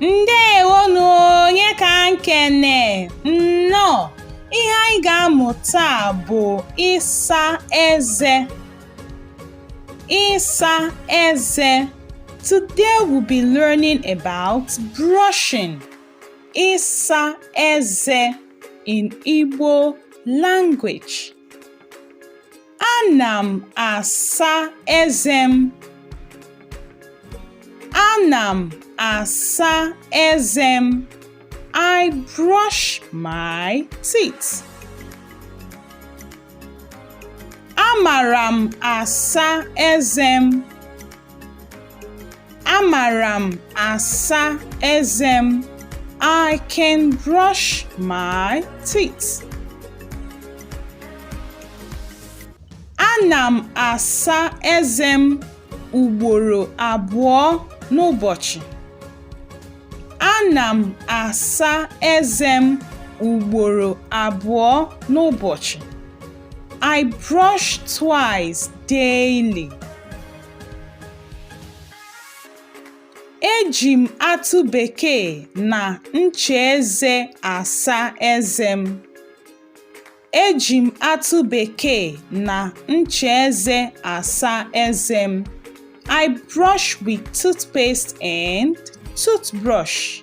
ndewo nụ onye ka nkene nnọọ ihe anyị ga-amụ taa bụ ịsa eze ịsa eze today we'll be learning about brushing ịsa eze in Igbo language. Ana m asa eze m. Ana m asa eze m. I brush my teeth. Amara m asa eze m. Amara m asa eze m. I can brush my teeth. Ana m asa eze m ugboro abụọ n'ụbọchị. Ana m asa eze m ugboro abụọ n'ụbọchị. I brush twice daily. Eji m atụ bekee na ncha eze asa eze m. Eji m atụ bekee na ncha eze asa eze m. I brush with toothpaste and toothbrush.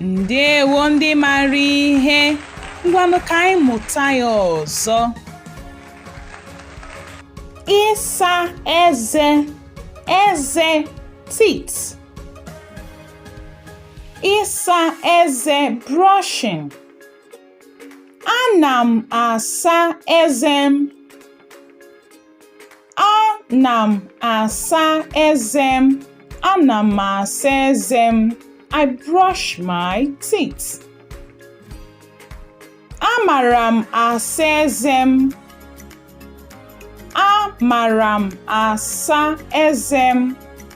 ndewo ndị mara ihe ngwanụ ka anyị mụta ya ọzọ ịsa eze eze teeth ịsa eze brushing ana m asa eze m Ana m asa eze m. Ana m asa eze m. I brush my teeth. Amara m asa eze m. Amara m asa eze m.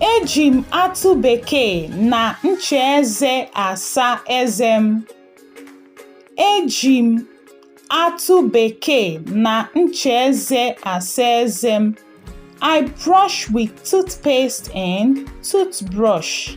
Eji m atụ bekee na ncha eze asa eze m. Eji m atụ bekee na ncha eze asa eze m. I brush with toothpaste and toothbrush.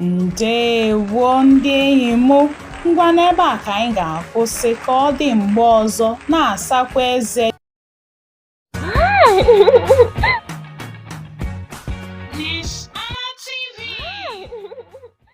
ndewo ndị enyi m ngwa n'ebe a ka anyị ga-akwụsị ka ọ dị mgbe ọzọ na-asakwa eze